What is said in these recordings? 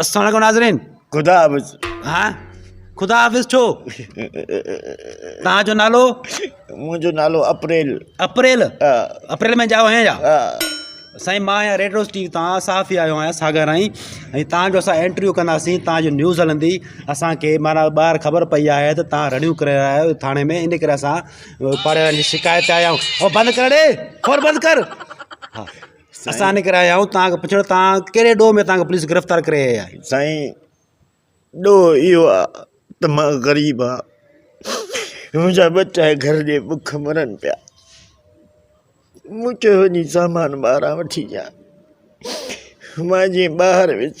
السلام عليڪم ناظرين خدا حافظ ها خدا حافظ ڇو تنهنجو نالو منهنجو نالو اپريل اپريل اپريل ۾ جايو آهيان يا سائين مان آهيان ريڊ روز ٽي وي تان صحافي آيو آهيان ساگر آئين ۽ تان جو اسان انٽرويو ڪنداسين تان جو نيوز هلندي اسانکي مانا ٻاهر خبر پئي آهي ته تان رڙيون ڪري رهيا آهيو ٿاڻي ۾ ان ڪري اسان پاڙيوارن جي شڪايت آيا آهيون او بند ڪر ڙي فون بند ڪر اسان نڪريا آهيون تان کان پڇڻ تان ڪهڙي ڏوهه ۾ تان کان پوليس گرفتار ڪري آهي آهي سائين ڏوهه اهو آهي ته مان غريب آهي منهنجا ٻچا گهر جي بک مرن پيا مون چيو وڃي سامان ٻاهران وٺي ڏيان مان جي ٻاهر ويس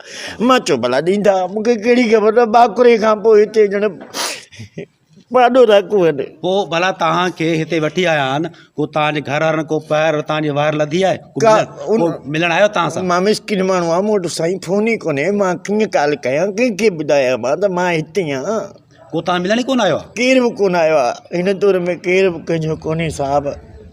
مان چيو ڀلا ڏيندا مون کي ڪهڙي خبر ته ٻاڪري کان پوء هتي ڄڻ پاڏو ٿا ڪون پوء ڀلا توهان کي هتي وٺي آيا آهن ڪو توهان جي گهر وارن ڪو پهر توهان جي وهر لڌي آهي ڪا ان ملڻ آيو توهان سان مان مسڪين ماڻهو آهيان مون وٽ سائين فون ئي ڪونهي مان ڪيئن ڪال ڪيان ڪنهن کي ٻڌايان مان ته مان هتي آهيان ڪو تان ملڻ ئي ڪونه آيو آ. ڪير به ڪونه آيو آ. هن دور ۾ ڪير به ڪنهنجو ڪونهي صاحب.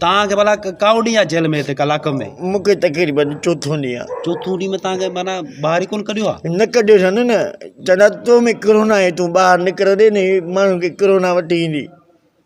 تان کي ڀلا ڪئو ڏينهن آ جيل ۾ هتي ڪلاڪ ۾. مون کي تقريبن چوٿون ڏينهن آ. چوٿون ڏينهن ۾ تان کي معنيٰ ٻاهر ئي ڪونه ڪڍيو آ. نه ڪڍيو ٿن نه. چون ٿا تو ۾ ڪرونا آهي تون ٻاهر نڪرندين هي ماڻهن کي ڪرونا وٺي ايندي.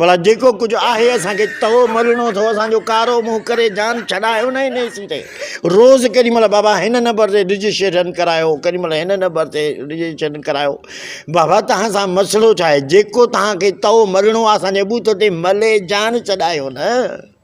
ڀلا جيڪو ڪجهه آهي اسان کي تهو ملڻو اٿو اسان جو ڪارو منهن ڪري جان ڇڏايو نه هن اي سي تي روز ڪيڏي مهل بابا هن نمبر تي رجسٽريشن ڪرايو ڪيڏي مهل هن نمبر تي رجسٽريشن ڪرايو بابا توهان سان مسئلو ڇا آهي جيڪو توهان کي تهو ملڻو آهي اسان جي بوٿ تي ملي جان ڇڏايو نه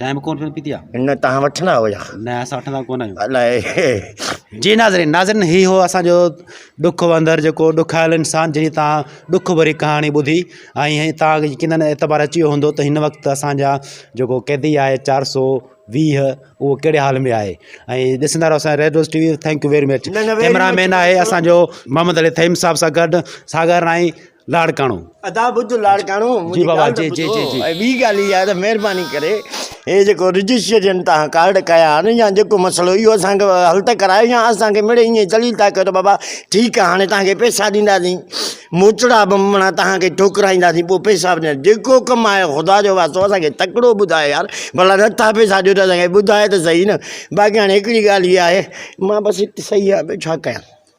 چانهه به ڪونه پيئڻ پيتي آهي نه تان وٺندا هو يا نه اسان وٺندا ڪونه آهيون الائي جي ناظرين ناظرين هي هو اسانجو ڏک وندر جيڪو ڏکايل انسان جنهن تان ڏک ڀري ڪهاڻي ٻڌي ۽ هي تان يقينن اعتبار اچي ويو هوندو ته هن وقت اسانجا جيڪو قيدي آهي چار سو ويهه اهو ڪهڙي حال ۾ آهي ۽ ڏسندا رهو اسان Red Rose T V thank you very much cameraman آهي اسانجو محمد علي ٿهيم صاحب سان گڏ ساگر ۽ لاڙڪاڻو. ادا ٻڌ لاڙڪاڻو منهنجي ڳالهه ته ٻڌو ۽ ٻي ڳالهه اها آهي ته مهرباني ڪري هي جيڪو رجسٽريشن تهان ڪارڊ ڪيا آهن يا جيڪو مسئلو اهو اسان کي حل ته ڪرايو يا اسان کي مڙئي ائين دليل ٿا ڪيو ته بابا ٺيڪ آهي هاڻي تهان کي پئسا ڏينداسين موچڙا به مڙا تهان کي ٺوڪرائينداسين پوء پئسا به ڏيندا جيڪو ڪم آهي خدا جو واسطو اسان کي تڪڙو ٻڌاء يار ڀلا نٿا پئسا ڏيو ته اسان کي ٻڌاء ته سهي نه باقي هاڻي هڪڙي ڳالهه اها آهي مان بس هت سهي آهيان ٻيو ڇا ڪيان